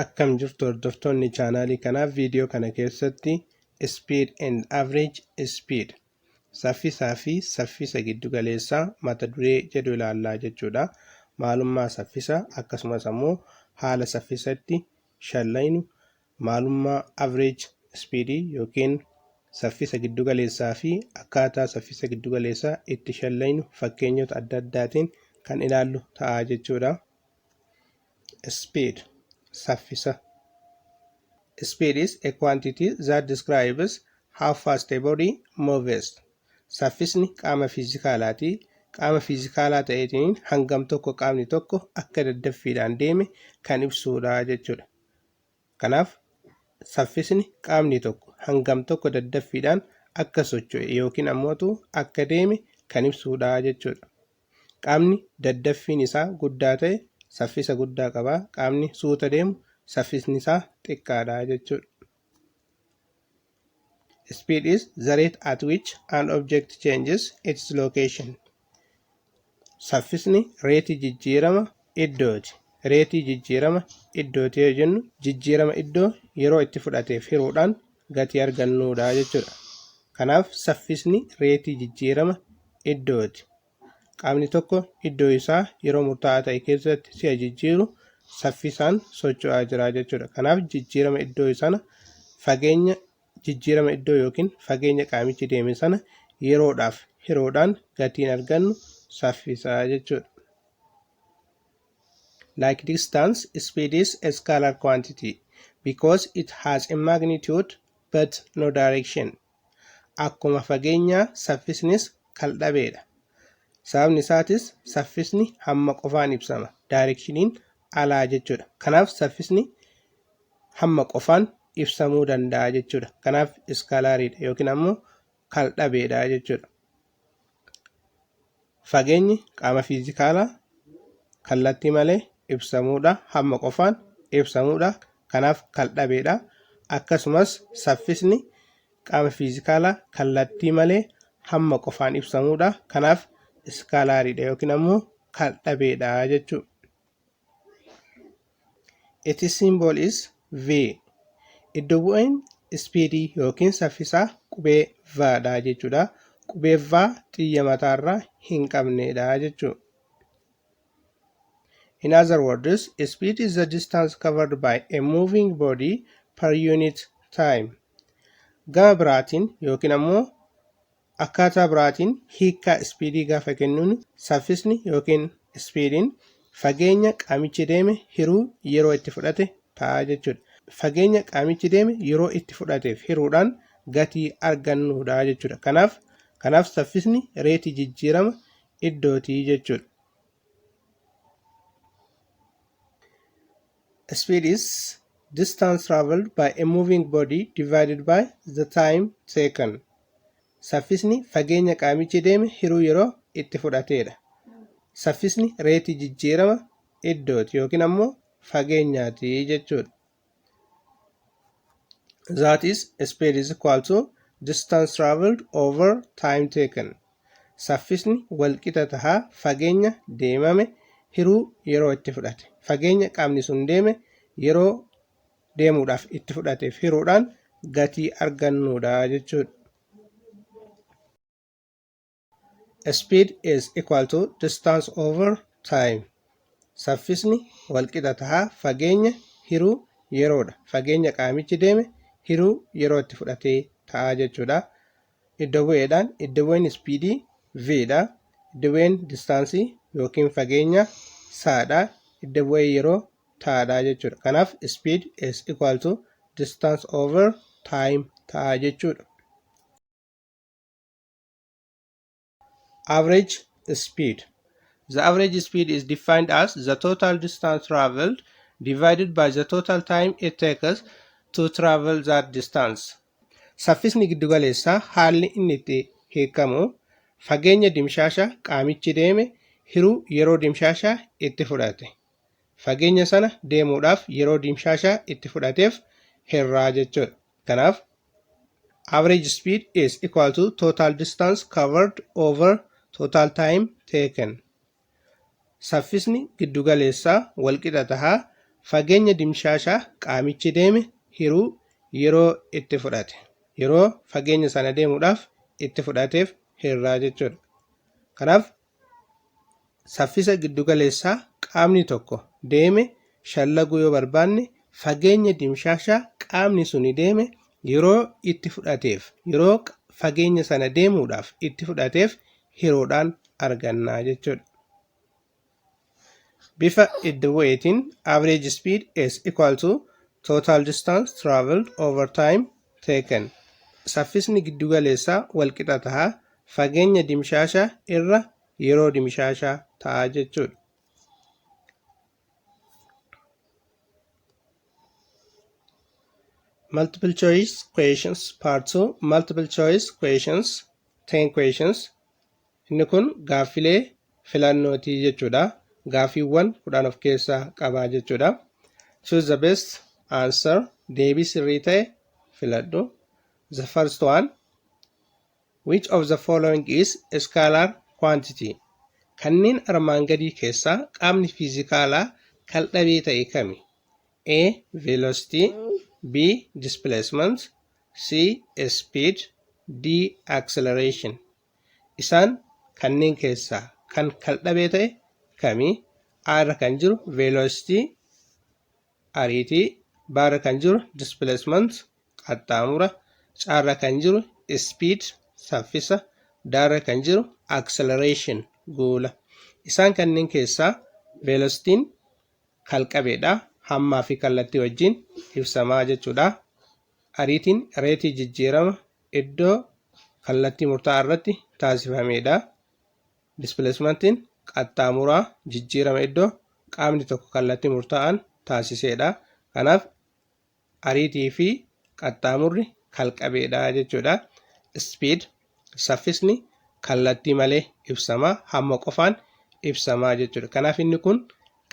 Akkam jirtu hordoftoonni chaanaalii kanaa viidiyoo kana keessatti speed and average speed saffisaa fi saffisa giddugaleessaa mata duree jedhu ilaallaa jechuudha. Maalummaa saffisa akkasumas ammoo haala saffisatti shallaynu maalummaa average speed yookiin saffisa giddugaleessaa fi akkaataa saffisa giddugaleessaa itti shallaynu fakkeenyota adda addaatiin kan ilaallu ta'a jechuudha. speed saffisa speed is a quantity that describes how fast a body moves saffisni qaama fiizikaalaati qaama fiizikaalaa ta'eetiin hangam tokko qaamni tokko akka daddaffiidhaan deeme kan ibsuudha jechuudha Kanaaf, saffisni qaamni tokko hangam tokko daddaffiidhaan akka socho'e yookiin ammootu akka deeme kan ibsuudha jechuudha. Qaamni daddaffiin isaa guddaa ta'e saffisa guddaa qaba, qaamni suuta deemu saffisni isaa xiqqaadha jechuudha. Speed is the rate at which an object changes its location. Saffisni reetii jijjiirama iddooti. Reetii jijjiirama iddooti yoo jennu jijjiirama iddoo yeroo itti fudhateef hiruudhaan gatii argannuudha jechuudha. Kanaaf saffisni reetii jijjiirama iddooti. Qaamni tokko iddoo isaa yeroo murtaa'aa ta'e keessatti si'a jijjiiru saffisaan socho'aa jira jechuudha. Kanaaf jijjiirama iddoo sana fageenya jijjiirama iddoo yookiin fageenya qaamichi deeme sana yeroodhaaf hiroodhaan gatiin argannu saffisaa jechuudha. Like distance, speed is a scalar quantity because it has a magnitude but no direction. Akkuma fageenyaa saffisnis kaldhabeedha. Sababni isaatis saffisni hamma qofaan ibsama. Daayirekshiniin alaa jechuudha. Kanaaf saffisni hamma qofaan ibsamuu danda'a jechuudha. Kanaaf iskaalaariidha yookiin ammoo kaldhabeedha jechuudha. Fageenyi qaama fiizikaalaa kallattii malee ibsamuudha hamma qofaan ibsamuudha kanaaf kaldhabeedha akkasumas saffisni qaama fiizikaalaa kallattii malee hamma qofaan ibsamuudha kanaaf iskaalaariidha yookiin ammoo kaldhabeedha jechuudha. Its symbol is V. Iddo bu'een ispiidii yookiin saffisaa qubee V dha jechuudha. Qubee V xiyya mataarraa hin qabneedha jechuudha. In other words, speed is the distance covered by a moving body per unit time. Gama biraatiin yookiin ammoo Akkaataa biraatiin hiikkaa ispiidii gaafa kennuun saffisni yookiin ispiidiin fageenya qaamichi deeme hiruu yeroo itti fudhate ta'a jechuudha. Fageenya qaamichi deeme yeroo itti fudhateef hiruudhaan gatii argannuudha jechuudha. Kanaaf kanaaf saffisni reetii jijjiirama iddooti jechuudha. Speed is distance traveled by a moving body divided by the time taken. Saffisni fageenya qaamichi deeme hiruu yeroo itti fudhateedha. Saffisni reetii jijjiirama iddooti yookiin ammoo fageenyaati jechuudha. That is, speed is equal to distance traveled over time taken. saffisni walqixa taha fageenya deemame hiruu yeroo itti fudhate fageenya qaamni sun deeme yeroo deemuudhaaf itti fudhateef hiruudhaan gatii argannuudha jechuudha. Speed is equal to distance over time. Saffisni walqixa taha fageenya hiruu yeroodha. Fageenya qaamichi deeme hiruu yeroo itti fudhatee ta'a jechuudha. iddo bu'eedhaan iddo bu'een ispiidii v dha iddo bu'een distaansii yookiin fageenya saa dha iddo bu'ee yeroo taa dha jechuudha kanaaf speed is equal to distance over time ta'a jechuudha. average speed the average speed is defined as the total distance traveled divided by the total time it takes to travel that distance saffisni giddugaleessaa haalli inni itti hiikamu fageenya dimshaasha qaamichi deeme hiruu yeroo dimshaasha itti fudhate Fageenya sana deemuudhaaf yeroo dimshaashaa itti fudhateef herraa jechuudha. Kanaaf average speed is equal to total distance covered over total time taken. Saffisni giddugaleessaa walqixa tahaa fageenya dimshaashaa qaamichi deeme hiruu yeroo itti fudhate yeroo fageenya sana deemuudhaaf itti fudhateef herraa jechuudha. Kanaaf Saffisa giddugaleessaa qaamni tokko deeme shallaguu yoo barbaanne fageenya dimshaashaa qaamni suni deeme yeroo itti fudhateef yeroo fageenya sana deemuudhaaf itti fudhateef hiroodhaan argannaa jechuudha. Bifa iddo bu'eetiin average speed is equal to total distance traveled over time taken. Saffisni giddugaleessaa walqixa ta'a fageenya dimshaashaa irra yeroo dimshaashaa ta'a jechuudha. Multiple choice questions part 2 multiple choice questions 10 questions Inni kun gaaffilee filannooti jechuudha. Gaaffiiwwan kudhan of keessaa qaba jechuudha. Choose the best answer. Deebii sirrii ta'e filadhu. The first one. Which of the following is a scalar quantity? Kanneen armaan gadii keessaa qaamni fiizikaalaa kal-dhabee ta'e kami? A. Velocity B. Displacement C. Speed D. Acceleration Isaan kanneen keessaa kan kaldhabee ta'e kami? A irra kan jiru velocity ariitii, B irra kan jiru displacement qaxxaamura, C irra kan jiru speed saffisa, D irra kan jiru acceleration guula. Isaan kanneen keessaa velocity'n kalqabeedha. Hammaa fi kallattii wajjin ibsamaa jechuudha. ariitiin reetii jijjiirama iddoo kallattii murtaa'aa irratti taasifameedha. Dispileesmantiin qaxxaamuraa jijjiirama iddoo qaamni tokko kallattii murtaa'aan taasiseedha. Kanaaf ariitii fi qaxxaamurri kalqabeedha jechuudha. Speed Saffisni kallattii malee ibsama, hamma qofaan ibsama jechuudha. Kanaaf inni kun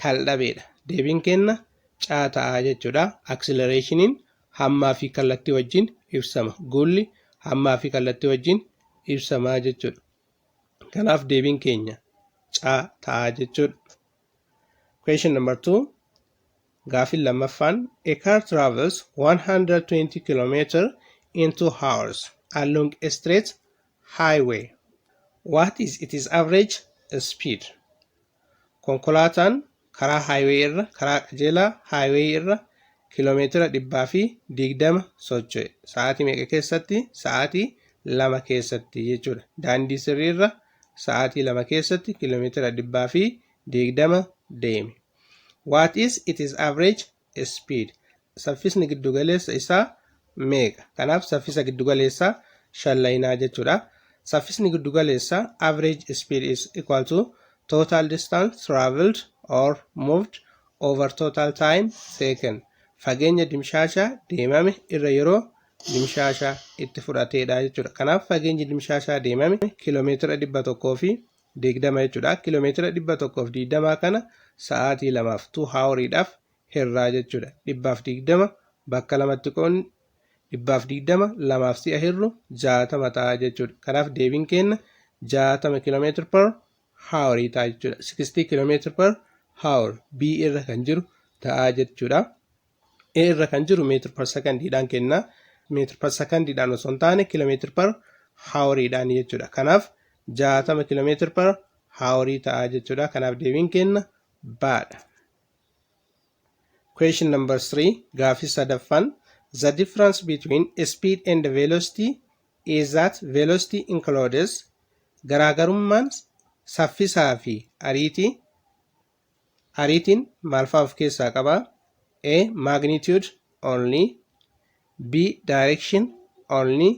kaldhabeedha. Deebiin keenna caa ta'a jechuudha. Aksilereeshiniin hammaa fi kallattii wajjin ibsama. Guulli hammaa fi kallattii wajjin ibsama jechuudha. Kanaaf deebiin keenya caa ta'a jechuudha. Question number 2. Gaafin lammaffaan a car travels 120 km in 2 hours along a straight highway. What is its average speed? Konkolaataan karaa highway irra karaa qajeelaa highway irra kiiloomeetira dhibbaa fi digdama socho'e sa'aatii meeqa keessatti sa'aatii lama keessatti jechuudha daandii sirrii irra sa'aatii lama keessatti kiiloomeetira dhibbaa fi deegdama deeme. What is its average speed? Saffisni giddugaleessa isaa meeqa? Kanaaf saffisa giddugaleessaa shallaynaa jechuudha. Saffisni giddugaleessaa average speed is equal to total distance traveled or moved over total time taken. Fageenya dimshaashaa deemame irra yeroo dimshaasha itti fudhateedha jechuudha. Kanaaf fageenyi dimshaashaa deemame kiiloomeetira dhibba tokkoo fi digdama jechuudha. Kiiloomeetira dhibba tokkoo fi digdamaa kana sa'aatii lamaaf tuu haaworiidhaaf hirraa jechuudha. Dhibbaaf digdama bakka lamatti qoonni dhibbaaf digdama lamaaf si'a hirru jaatama ta'a jechuudha. Kanaaf deebiin keenna jaatama kiiloomeetira per haaworii ta'a jechuudha. Sikistii kiiloomeetira per haawor B irra kan jiru ta'a jechuudha. A irra kan jiru meetir par sekandiidhaan kenna. Meetir par sekandiidhaan osoo hin taane kilomeetir par haaworiidhaan jechuudha. Kanaaf jaatama kilomeetir par haaworii ta'a jechuudha. Kanaaf deebiin kenna baadha. Question number 3 gaafii sadaffaan the difference between speed and velocity is that velocity includes garaagarummaan saffisaa fi ariitii Ariitiin maal faa of keessaa qaba? A. Magnitude only B. Direction only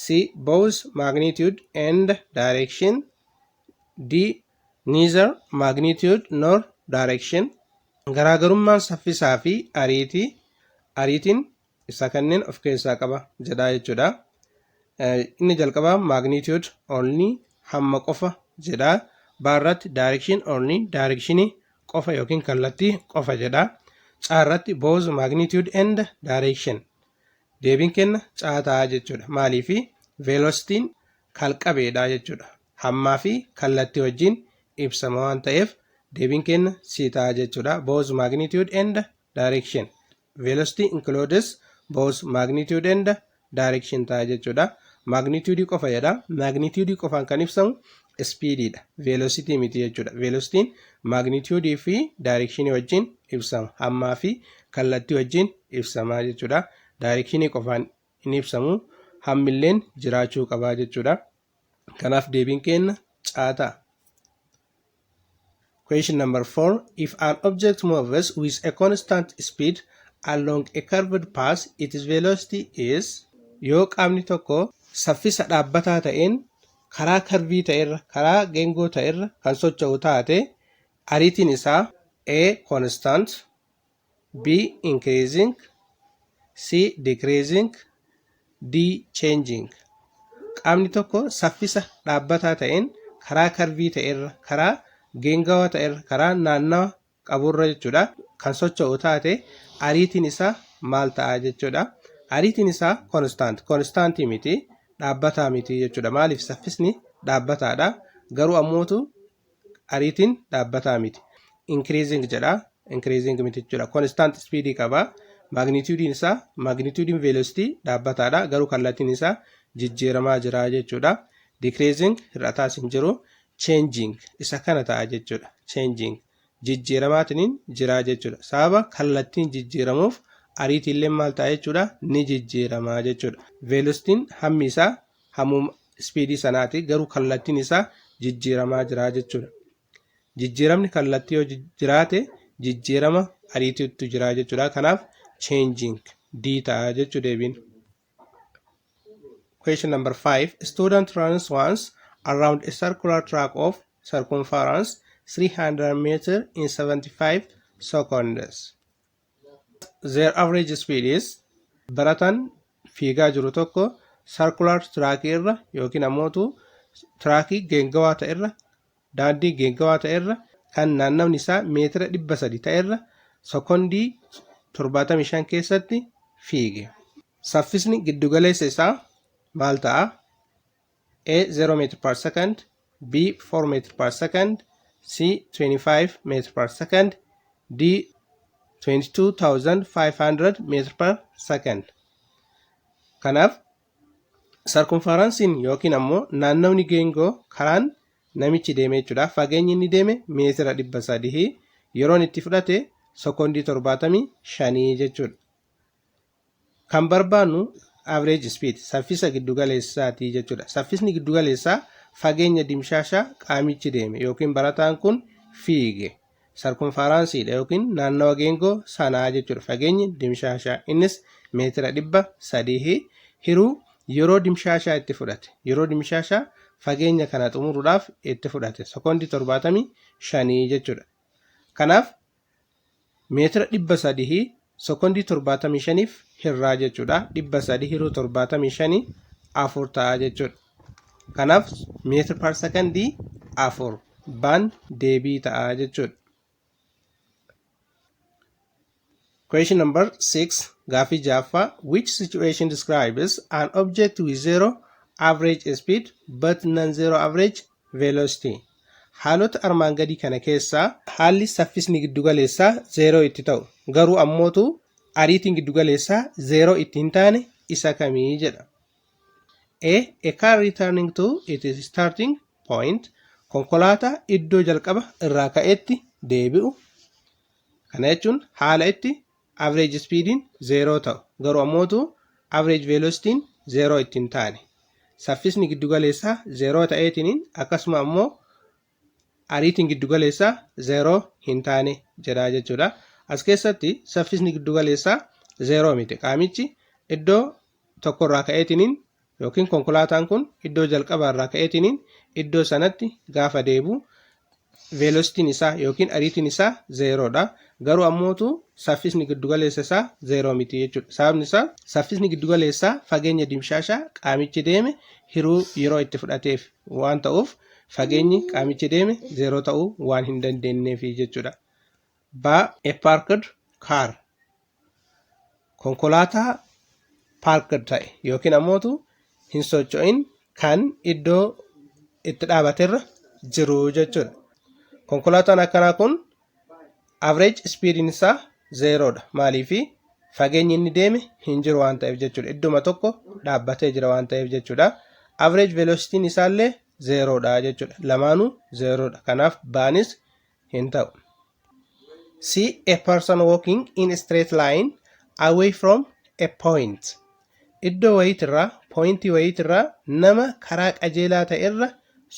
C. Both magnitude and direction D. Neither magnitude nor direction Garaagarummaan saffisaa fi ariitii Ariitiin ibsaa kanneen of keessaa qaba jedhaa jechuudha. Inni jalqabaa magnitude only hamma qofa jedhaa. Baarratti direction only direction qofa yookiin kallattii qofa jedhaa. Caarratti both magnitude and direction. Deebiin kenna caa ta'a jechuudha. Maaliif velocitiin kalqabeedha jechuudha. Hammaa fi kallattii wajjin ibsama waan ta'eef deebiin kenna si ta'a jechuudha. Both magnitude and direction. Velocity includes both magnitude and direction ta'a jechuudha. Magnitude qofa jedha. Magnitude qofaan kan ibsamu speed dha. Velocity miti jechuudha. Velocity'n magnitude fi direction wajjin ibsama. Hammaa fi kallattii wajjin ibsama jechuudha. Direction qofaan hin ibsamu. Hammilleen jiraachuu qaba jechuudha. Kanaaf deebiin keenna caa ta'a. Question number 4. If an object moves with a constant speed along a curved path, its velocity is yoo qaamni tokko saffisa dhaabbataa ta'een karaa karvii ta'erra karaa geengoo ta'erra kan socho'u taate ariitiin isaa A constant B. Increasing C. Decreasing D. Changing Qaamni tokko saffisa dhaabbataa ta'een karaa karvii ta'erra, karaa geengawaa ta'erra, karaa naannawa qaburra jechuudha kan socho'u taate ariitiin isaa maal ta'a jechuudha. Ariitiin isaa konstant, konstaantii miti, dhaabbataa miti jechuudha. Maaliif saffisni dhaabbataadha. Garuu ammootu ariitiin dhaabbataa miti increasing jedha increasing miti jechuudha constant speed qaba magnitudiin isaa magnitudiin velocity dhaabbataadha garuu kallattiin isaa jijjiiramaa jira jechuudha decreasing hir'ataas hin jiru changing isa kana ta'a jechuudha changing jijjiiramaatiniin jira jechuudha sababa kallattiin jijjiiramuuf ariitiillee maal ta'a jechuudha ni jijjiirama jechuudha velocitiin hammi isaa hamuma ispiidii sanaati garuu kallattiin isaa jijjiiramaa jira jechuudha. Jijjiiramni kallattii yoo jiraate jijjiirama ariitiitu jira jechuudha. Kanaaf changing D ta'a jechuu deebiin. Question number 5. Student runs once around a circular track of circumference 300 meter in 75 seconds. Their average speed is barataan fiigaa jiru tokko circular track irra yookiin ammootu traakii geengawaa ta'e irra daandii geengawaa ta'e irra kan naannawni isaa meetira 300 ta'e irra sekondii 75 keessatti fiige. Saffisni giddugaleessa isaa maal ta'a? A 0 meter per second, B 4 meter per second, C 25 meter per second, D 22,500 meter per second. Kanaaf sarkumfaransiin yookiin ammoo naannawni geengoo karaan namichi deeme jechuudha. Fageenyi inni deeme meetira dhibba sadii yeroon itti fudhate sekoondii torbaatamii shanii jechuudha. Kan barbaannu average speed saffisa giddugaleessaati jechuudha. Saffisni giddugaleessaa fageenya dimshaasha qaamichi deeme yookiin barataan kun fiige sarkonfaaraansiidha yookiin naannawa geengoo sanaa jechuudha. Fageenyi dimshaashaa innis meetira dhibba sadii hiruu yeroo dimshaashaa itti fudhate yeroo dimshaashaa fageenya kana xumuruudhaaf itti fudhate sekoondii torbaatamii shanii jechuudha. Kanaaf meetira 300 sekondii 75f hirraa jechuudha 300 hiruu 75 afur ta'a jechuudha kanaaf meetira par sekondii afur baan deebii ta'a jechuudha Question number 6 gaafii jaaffaa which situation describes an object with zero average speed but non-zero average velocity, haalota armaan gadii kana keessaa. haalli saffisni giddugaleessaa zeeroo itti ta'u, garuu ammootu ariitiin giddugaleessaa zeeroo itti hin taane isa kami jedha. A, A car returning to its starting point, konkolaataa iddoo jalqaba irraa ka'etti deebi'u. Kana jechuun haala itti average speed'n 0 ta'u garu ammootu average velocity'n 0 itti hin taane. Saffisni giddugaleessaa 0 ta'eetiniin akkasuma ammoo ariitiin giddugaleessaa 0 hin taane jedha jechuudha. As keessatti saffisni giddugaleessaa 0 miti. Qaamichi iddoo tokkorraa ka'eetiniin yookiin konkolaataan kun iddoo jalqabaa irraa ka'eetiniin iddoo sanatti gaafa deebu veelositiin isaa yookiin ariitiin isaa zeeroodha. Garuu ammootu saffisni giddugaleessa isaa zeeroo miti jechuudha. Sababni isaa saffisni giddugaleessaa fageenya dimshaashaa qaamichi deeme hiruu yeroo itti fudhateef waan ta'uuf fageenyi qaamichi deeme zeeroo ta'uu waan hin dandeenyeef jechuudha. Ba a parked car konkolaataa parked ta'e yookiin ammootu hin socho'in kan iddoo itti dhaabaterra jiru jechuudha. Konkolaataan akkanaa kun average speediin isaa zeeroodha. Maaliif fageenyi inni deeme hin jiru waan ta'eef jechuudha. Idduma tokko dhaabbatee jira waan ta'eef jechuudha. Average velocitiin isaallee zeeroodha jechuudha. Lamaanuu zeeroodha. Kanaaf baanis hin ta'u. See a person walking in a straight line away from a point. Iddoo wayiitirraa, pooyintii wayiitirraa nama karaa qajeelaa ta'erra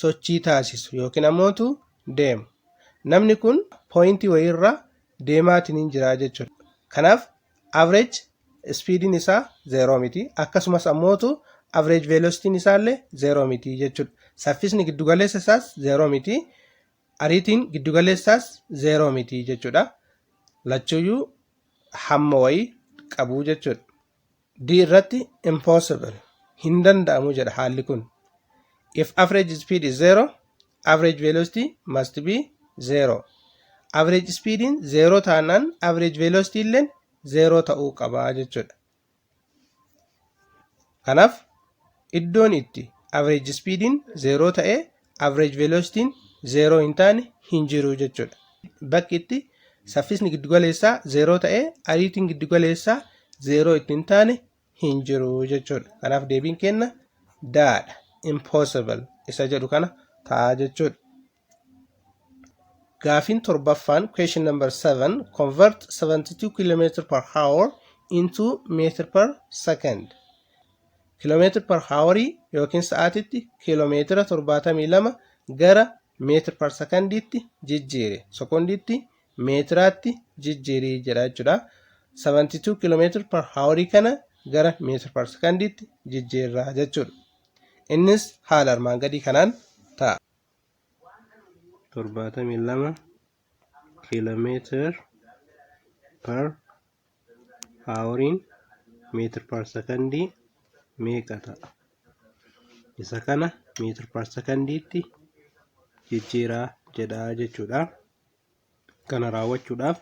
sochii taasisu yookiin ammootu deemu. Namni kun pooyintii wayiirraa deemaatiin hin jiraa jechuudha. Kanaaf average speediin isaa zeeroo miti. Akkasumas ammootu average velocitiin isaallee zeeroo miti jechuudha. Saffisni giddugaleessa isaas zeeroo miti. ariitiin giddugaleessaas zeeroo miti jechuudha. Lachuuyyuu hamma wayii qabu jechuudha. D irratti impossible hin danda'amu jedha haalli kun. If average speed is zero, average velocity must be zero. Average speediin zeeroo taanaan average velocity illeen zeeroo ta'uu qaba jechuudha. Kanaaf iddoon itti average speediin zeeroo ta'e average velocitiin zeeroo hin taane hin jiru jechuudha. Bakki itti saffisni giddugaleessaa zeeroo ta'e ariitiin giddugaleessaa zeeroo itti hin taane hin jiru jechuudha. Kanaaf deebiin kenna daadha impossible isa jedhu kana ta'a jechuudha. Gaafiin torbaffaan question number 7 convert 72 km per hour into meter per second kilomeetir per haawarii yookiin sa'aatitti kiiloomeetira 72 gara meetir per sekondiitti jijjiire sekondiitti meetiraatti jijjiirii jedha jechuudha 72 kiiloomeetir per haawarii kana gara meetir per sekondiitti jijjiirra jechuudha innis haala armaan gadii kanaan torbaatamii lama kiilomeetir per haaworiin meetir per sekondii meeqa ta'a? Isa kana meetir per sekondiitti jijjiiraa jedhaa jechuudha. kana raawwachuudhaaf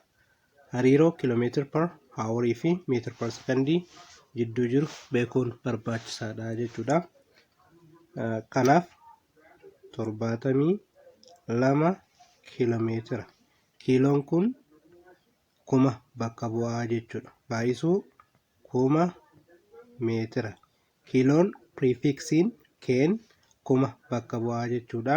hariiroo kilomeetir per haawarii fi meetir per sekondii jidduu jiru beekuun barbaachisaadha jechuudha. Kanaaf torbaatamii lama kilomeetira. Kiiloon kun kuma bakka bu'aa jechuudha. Baay'isuu kuma meetira. Kiiloon piriifiksiin keen kuma bakka bu'aa jechuudha.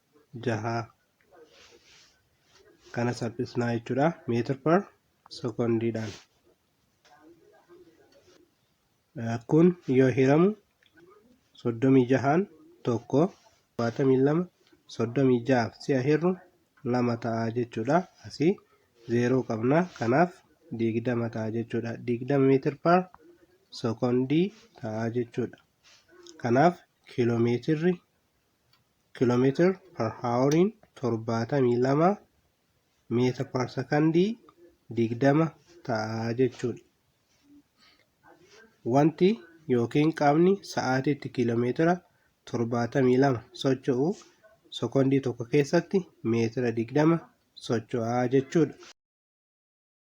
jaha kana salphisnaa jechuudha meetir per sekondiidhaan kun yoo hiramu soddomii jahaan tokko torbaatamii lama soddomii jahaaf si'a hirru lama ta'a jechuudha asii zeeroo qabna kanaaf digdama ta'a jechuudha digdama meetir per sekondii ta'a jechuudha kanaaf kiiloomeetirri kilometer per houriin torbaatamii lama meetir per sekondii digdama ta'a jechuudha. Wanti yookiin qaamni sa'aatiitti kiiloomeetira torbaatamii lama socho'u sekondii tokko keessatti meetira digdama socho'a jechuudha.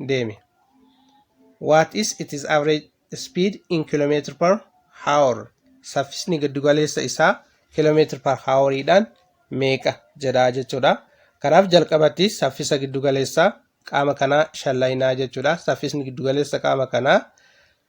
deemi. What is its average speed in kilometer per hour? Saffisni giddugaleessa isaa kilometer per hour dhaan meeqa jedha jechuudha. Kanaaf jalqabatti saffisa giddugaleessaa qaama kanaa shallaynaa jechuudha. Saffisni giddugaleessa qaama kanaa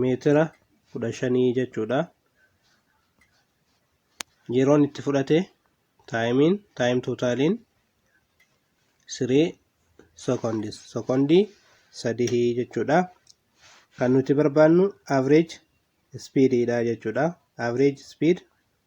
meetira kudha shanii jechuudha. Yeroon itti fudhate taayimiin taayim tootaaliin sirii sekondis sekondii sadihii jechuudha. Kan nuti barbaannu average speedidha jechuudha. Average speed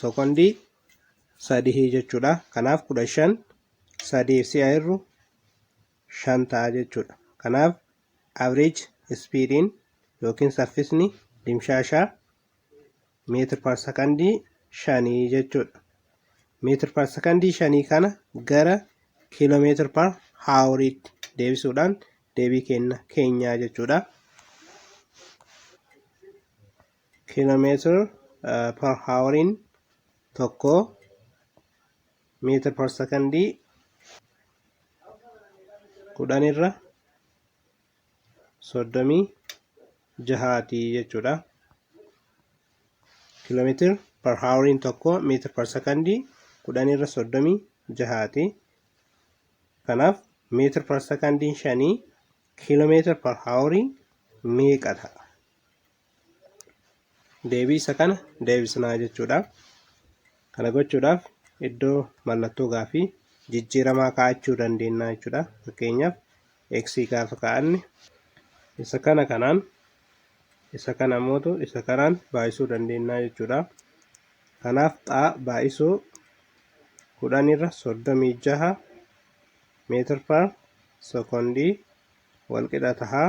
Sookondii sadihii jechuudha. Kanaaf kudha shan sadiif si'a hirru shan ta'a jechuudha. Kanaaf average speediin yookiin saffisni dimshaashaa meetir par sakandii shanii jechuudha. Meetir par sakandii shanii kana gara kiiloomeetir par haawuriitti deebisuudhaan deebii kenna keenyaa jechuudha. kilometer per hour'n tokko meter per secondii kudhan irra soddomii jahaati jechuudha. kilometer per hour'n tokko meter per secondii kudhan irra soddomii jahaati. Kanaaf meter per secondiin shanii kilometer per hour'n meeqa ta'a? deebii isa kana deebisnaa jechuudha. Kana gochuudhaaf iddoo mallattoo gaafii jijjiiramaa kaa'achuu dandeenya jechuudha. Fakkeenyaaf x gaafa kaa'anne isa kana kanaan isa kana mootu isa kanaan baay'isuu dandeenya jechuudha. Kanaaf xaa baay'isuu kudhan irra soddomii jaha meetir per sekondii walqixa tahaa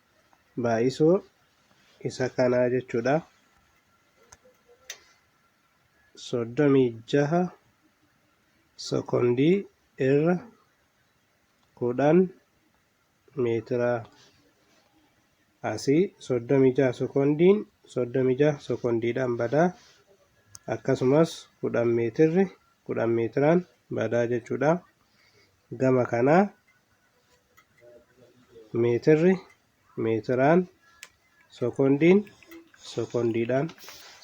baay'isuu isa kanaa jechuudha. soddomii jaha sekondii irra kudhan meetira asii soddomii jaha sekondiin soddomii jaha sekondiidhaan badaa akkasumas kudhan meetirri kudhan meetiraan badaa jechuudha. gama kanaa meetirri meetiraan sekondiin sekondiidhaan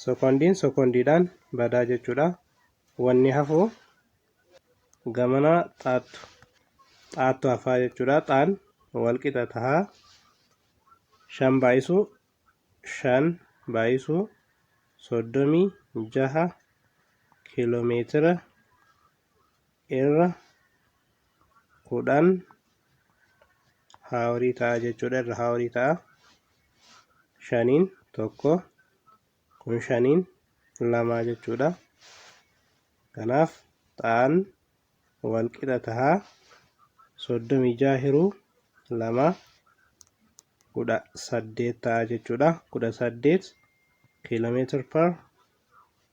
sekondiin sekondiidhaan badaa jechuudha wanni hafuu gamana xaattu xaattu hafaa jechuudha xaan wal qixa tahaa shan baay'isuu shan baay'isuu soddomii jaha kiiloomeetira irra kudhan haawarii ta'a jechuudha irra haawarii ta'a shaniin tokko kun shaniin lamaa jechuudha kanaaf ta'an wal qixa ta'a soddomii ja'a hiruu lama kudha saddeet ta'a jechuudha kudha saddeet kiiloomeetir par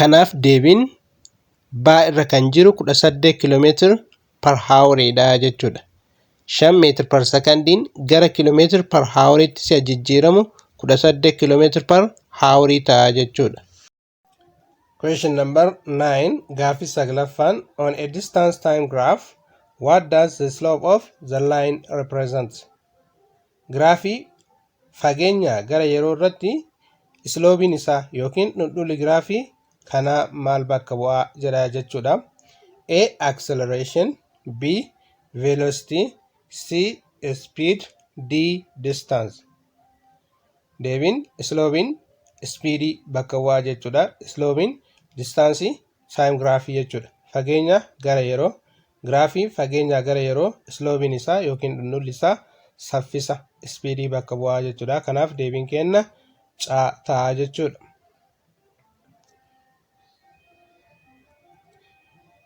Kanaaf deebiin baa irra kan jiru 18 km per hour dha jechuudha. 5 meetir per sekandiin gara kilomeetir per houritti si'a jijjiiramu 18 km per hour ta'a jechuudha. Question number 9 gaaffii saglaffaan on a distance time graph what does the slope of the line represent? Giraafii fageenyaa gara yeroo irratti isloobiin isaa yookiin dhundhulli giraafii kanaa maal bakka bu'aa jedha jechuudha. A. Acceleration B. Velocity C. Speed D. Distance Deebiin isloobiin ispiidii bakka bu'aa jechuudha. Isloobiin distaansii saayim giraafii jechuudha. Fageenya gara yeroo Giraafiin fageenyaa gara yeroo isloobiin isaa yookiin dhundhulli isaa saffisa, speed, bakka bu'aa jechuudha. Kanaaf deebiin keenna caa ta'a jechuudha.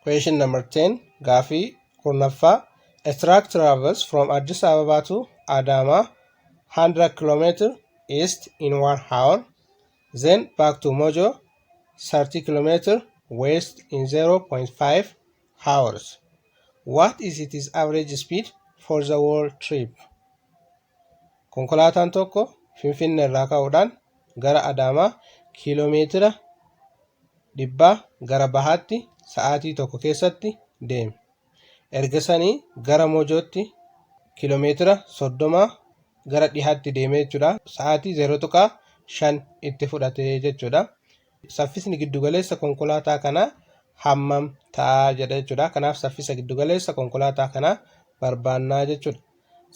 Question number 10 gaafii kurnaffaa A truck travels from Addis Ababa to Adama 100 km east in one hour then back to Mojo 30 km west in 0.5 hours. What is its average speed for the whole trip? Konkolaataan tokko Finfinnee irraa ka'uudhaan gara Adaamaa kiiloomeetira dhibbaa gara bahaatti sa'aatii tokko keessatti deeme. Erga sanii gara Mojootti kiiloomeetira soddomaa gara dhihaatti deemee jechuudha. Sa'aatii 0.5 itti fudhate jechuudha. Saffisni giddugaleessa konkolaataa kanaa hammam ta'a jedha jechuudha. Kanaaf saffisa giddugaleessa konkolaataa kanaa barbaannaa jechuudha.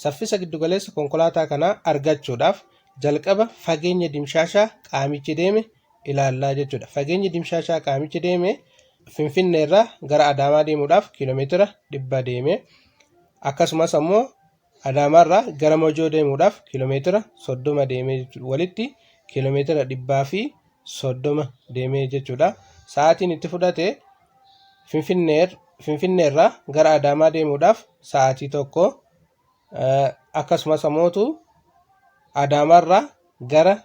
Saffisa giddugaleessa konkolaataa kanaa argachuudhaaf jalqaba fageenya dimshaashaa qaamichi deeme ilaallaa jechuudha. Fageenyi dimshaashaa qaamichi deeme Finfinneerraa gara Adaamaa deemuudhaaf kiiloomeetira dhibba deeme. Akkasumas ammoo Adaamaarraa gara Mojoo deemuudhaaf kiiloomeetira 30 deemee jechuudha. Walitti kiiloomeetira 130 deemee jechuudha. Sa'aatiin itti fudhate Finfinneerraa gara Adaamaa deemuudhaaf sa'aatii tokko akkasumas ammoo Adaamaarraa gara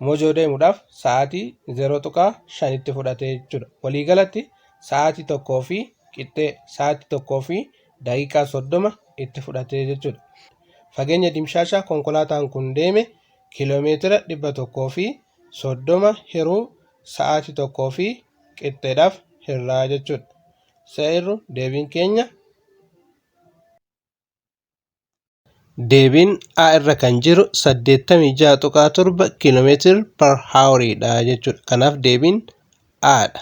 Mojoo deemuudhaaf sa'aatii 0.5 itti fudhatee jechuudha. Waliigalatti sa'aatii tokkoo fi qixxee sa'aatii tokkoo fi daqiiqaa 30 itti fudhatee jechuudha. Fageenya dimshaashaa konkolaataan kun deeme kiiloomeetira 130 hiruu sa'aatii tokkoo fi qixxeedhaaf hirraa jechuudha. Seerru deebiin keenya Deebiin A irra kan jiru 86.7 km per hour dha jechuudha. Kanaaf deebiin A dha.